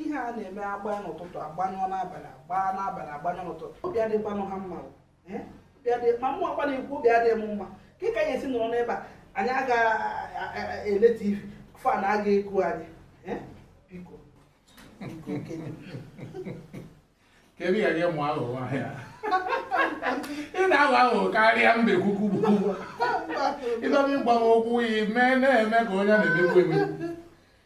ihe a na-eme agba n'ụtụtụ agbanyụọ n'abalị agba n'abalị agbanyụọ n'ụtụtụ obi adịkwanụ ha mma eh? ma mụwa kwa na-ekwu obi adịghị m mma ka ka anyị esi nọrọ n'ebe a anyị agaghị ele tv fan agaghị eku anyị eh? biko kedu ka gị mụ aghụghọ ahịa ị na-aghọ aghụghọ karịa mbe kwukwu ịdọba ịgbanwe okwu iyi mee na-eme ka onye na-emekwu emekwu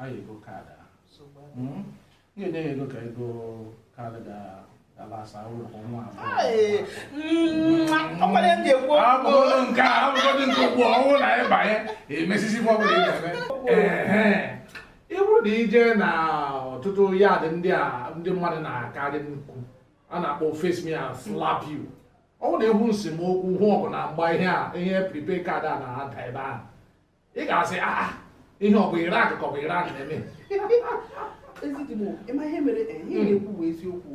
anyị ego kaadị ahụ nye nye ya ego ka ego kaadị ga-alasa ụlọ kwa nwa ọkwara ndị ekwu abụrụ nke a abụrụ nke ugbu ọnwụ na ịbanye emesisi fọ bụrụ ebe ị bụrụ na i jee na ọtụtụ yad ndị a ndị mmadụ na-akarị nnukwu a na-akpọ face me i slap you ọ bụrụ na ị hụ nsemokwu hụ ọgụ na mgba ihe a ihe prepaid kaadị a na-ada ebe ahụ ị ga-asị ah, ah, ihe ọ bụ iraq ka ọ bụ iran na-eme ezigbo ị ma ihe mere eh, ihe ị na-ekwu bụ eziokwu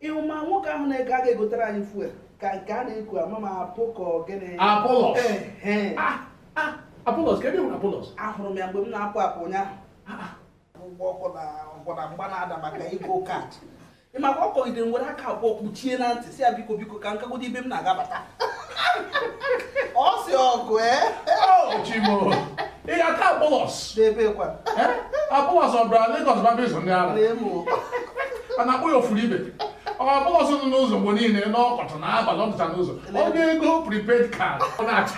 ị hụ ma nwoke ahụ na-aka aga egotere anyị fuel ka nke a na-eku ama ma apụ ka ogene apollos apollos kee ebe ị hụrụ apollos ahụrụ m ya mgbe m na-apụ apụ ụnyaahụ ụgwọ ọkụ na ọgụ na mgba na-ada maka ego kaadị ị ma ka ọ kọgidere m were aka abụọ kpuchie na ntị si ya biko biko ka m gagodu ebe m na-agaba ọ si ọgụ ee chimo ị ga-aka apollos n'ebee kwa apollos ọ bịara Lagos baba izu ndị ara a na-akpọ ya ofuru ebe apollos nọ n'ụzọ mgbe niile n'ọkọchị na abalị ọ dịcha n'ụzọ onye ego prepaid card ọ na-achọ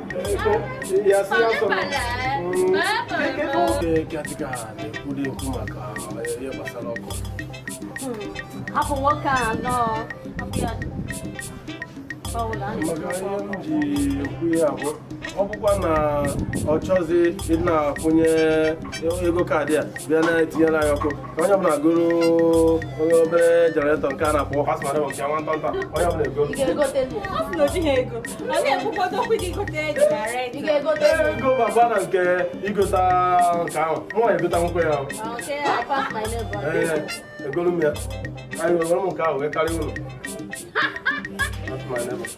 hapụ nwoke a nọọ ọ bụkwa na ọ chọzi ịna-akwụnye ego kaadị a bịa na-etinyere anyị ọkụ onye ọbụla goro onye obere jenaretọ nke a na-akpọ pass my neighbour nwata nta onye ọbụla ego ego baba na nke igota nke ahụ mụ na egota nwoke ya egolu m ya anyị nwere m nke ahụ wee karịa ụlọ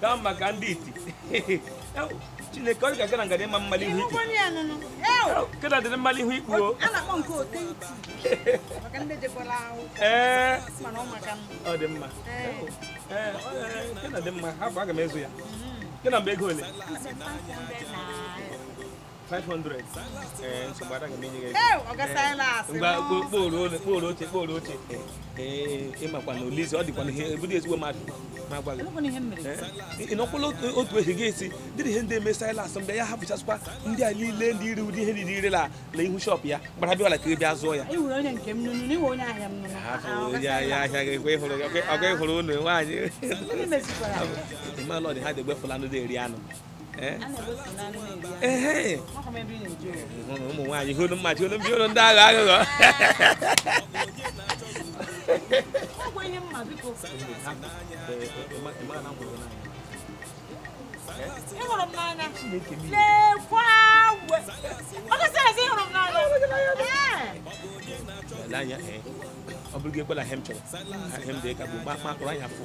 ka maka ndị iti chineke ọ ga-aga na ngada ịma mmalị ihu ikpu kena dịrị mmalị ihu ikpu o ee ọ dị mma ee kena dị mma hapụ aga m ezu ya kena mgbe ego ole 500 ee nsogbu ada ga-emenye gị ego kporo ole kporo oche kporo oche ee ị makwa na olizi ọ dịkwa ihe ebudo ezigbo mmadụ ma gwa gị ị nọkwala otu ehi gị esi dịrị ihe ndị eme silas mgbe ya hapụchasịkwa ndị a niile ndị iri ụdị ihe niile ire na na ihu shọpụ ya gbara bịa ọla ka ị bịa zụọ ya ya ahịa gị kwe hụrụ ọgụ ịhụrụ ụlọ nwaanyị ị malụ ọdị ha dị egbefula ndị na-eri anụ Eh? Eh, ụmụ nwaanyị hụrụ mma hụrụ mbi hụrụ ndị aghọ aghụghọ ị hụrụ m n'anya lekwa agwe ọ gasị ezi ị hụrụ m n'anya ọ bụrụ gị ekwela ihe m chọrọ ihe m dị ka bụ mkpa mkpụrụ anya fụ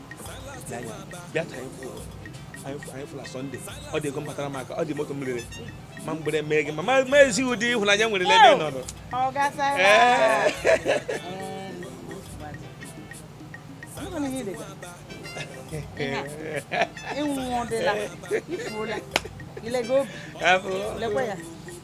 bịa ka anyị fụ la Sọnde ọ dị ego batara m aka ọ dị moto m rere ma mgbere mee gị ma m ezi gị ụdị ịhụnanya m nwere n'ebe ị nọrọ ịnwụdịla ifuola ilego obi lekwa ya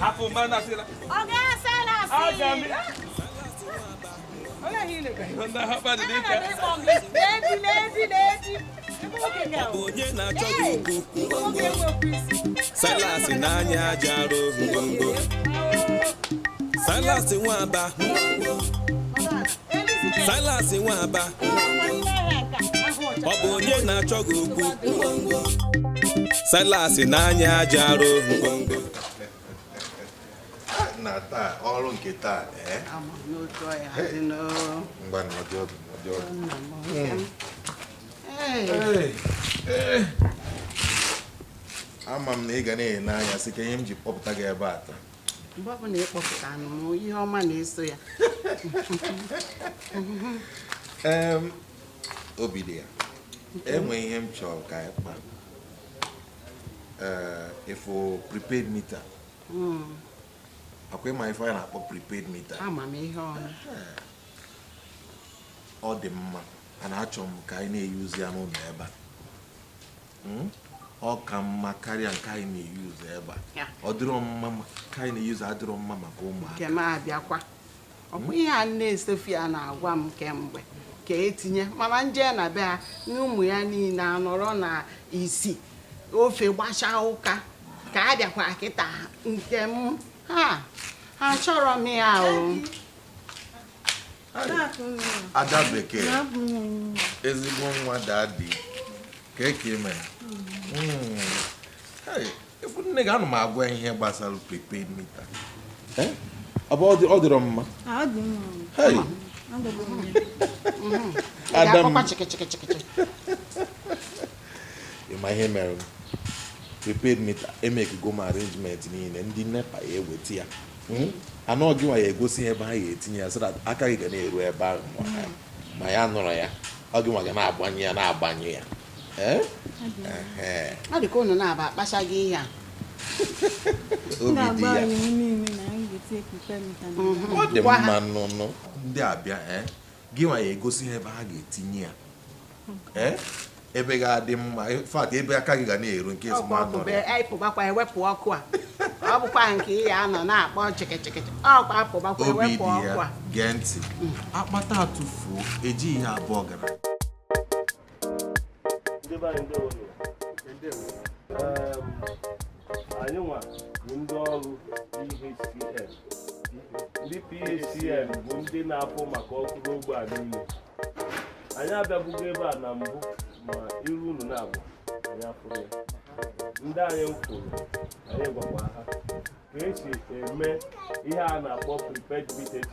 hapụ mma na asịla onye na-achọ gị okwu Silas n'anya aja arụ ngwongwo Silas nwa Aba Silas nwa Aba ọ bụ onye na-achọ gị okwu Silas n'anya aja arụ ngwongwo na taa ọrụ nke taa ee ngwa nọdụ ọdụ nọdụ ọdụ ama m na ị ga na-ene m anya sị kee ihe m ji kpọpụta gị ebe a taa mgbe ọbụla ị kpọpụtanụ m ihe ọma na-eso ya obidiya e nwe ihe m chọrọ ka anyị kpa ị fụ prepaid meter hmm. ọkwa ị ma ife anyị na-akpọ prepaid meter ama m ihe ọma ọ dị mma a na-achọ m ka anyị na-eyuzi ya n'ụnọ ebe a Hmm? ọ ka mma karịa nke anyị na-eyuzu ebe a ọ dịrọ mma nke anyị na-eyuzu adịrọ mma maka ụmụaka nke m abịakwa ọ bụ ihe a nne Sofia na-agwa m kemgbe ka e tinye mana m je na be ha na ụmụ ya niine anọrọ na isi ofe gbachaa ụka ka a bịakwa kịta nke m ha achọrọ m ya o ada bekee ezigbo nwa daddy kee ka ị me hmm. ị fụ nne gị ana m agwa ihe gbasara prepaid meter eh? ọ bụ ọ dịrọ mma ada m ịma ihe mere prepaid meter emekego m arrangement niile ndị NEPA ya eweta ya hmm? and ọ gị nwa ya egosi ha ebe ha ya etinye ya so that aka gị ga na-eru ebe ahụ ma ya nụrụ ya ọ gị nwa ga na-agbanyụ ya na-agbanye ya eh? ọ dị ka ụnụ na-aba akpachaghị ihe a obi dị ya mhm. ọ dị mma nnọọnụ ndị ọbịa eh? Gịnwa ya egosi ha ebe ha ga-etinye ya ee ebe ga-adị mma in fact ebe aka gị ga na-eru nke ọkwa ọkụ bụ anyị pụbakwa ewepụ ọkụ a ọ bụkwa nke ị ya anọ na-akpọ chịkịchịkịchị ọkwa apụbakwa obi ewepụ dị ọkụ ya a gee ntị akpata atụfuo ejighị ya abụ ọgara ndị be anyị ndewo anyị nwa bụ ndị ọrụ PHCN ndị PHCN bụ ndị na-afụ maka ọkụ n'ogbe a niile anyị abịabugo ebe a na mbụ ma iru unu na-abụ anyị ọfụrụ ndị anyị fụrụ anyị gwakwa ha ka esi eme ihe a na-akpọ prepaid metering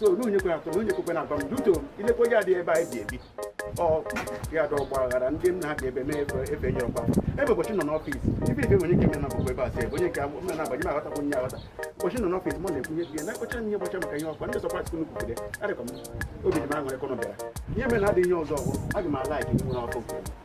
so n'onye kwere atọ n'onye kwekwe na-agwa m duto ilekwa ya dị ebe anyị bi ebi ọ ya dị ọgba aghara ndị m na-abịa ebe mee ebe ebe nye ọgba ebe ụbọchị nọ n'ọfịs ibe ibe nwere ike ime na ọgwụgwọ ebe a sị ebe onye nke a mụ na-abanye m aghọtakwu nye aghọta ụbọchị nọ n'ọfịs mụ na-ekwu ihe bie na-akọcha m ihe gbacha maka ihe ọkwa ndị sọpras kunu kwugide adịkwa m obi dị m aṅụrị kọnọ bịara ihe mere na adịghị ihe ọzọ ọgwụ aga m ala ike nwere ọkụ nke m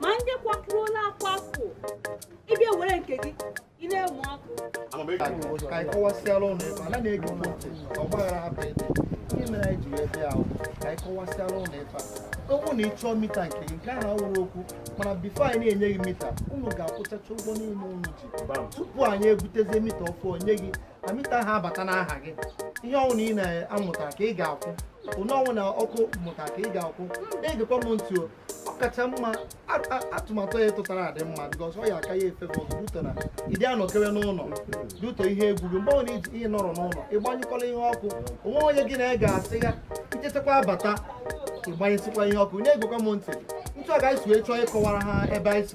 ma ndị kwapụrụ na akwapụ ịbịa were nke gị ị na-enwe ọkụ ka anyị kọwasịala unu ife ala na-ege unu ntị ọgbaghara hapụ ebe ihe mere anyị ji wee bịa ahụ ka anyị kọwasịala unu ife ọ bụ na ị chọọ meter nke gị nke ahụ awụrọ okwu mana before anyị na-enye gị meter unu ga-akwụchacha ụgwọ niile unu ji tupu anyị ebutezie meter ọfụụ nye gị meter ahụ abata n'aha gị ihe ọwụna ị na-amụtara ka ị ga-akwụ onye ọwụna ọkụ mụtara ka ị ga-akwụ na-egekwa m ntị o ọ kacha mma atụmatụ a tụtara adị mma because ọ ya aka ya mfe bọs due to na ịdị anọkewe n'ụlọ due to ihe egwu gị mgbe ọ na iji ihe nọrọ n'ụlọ ịgbanyụkwala ihe ọkụ onwe onye gị na ị ga-asị ya ichetakwa abata ịgbanyesịkwa ihe ọkụ na-egekwa m ntị otu a ga-esi wee chọọ ịkọwara ha ebe anyị si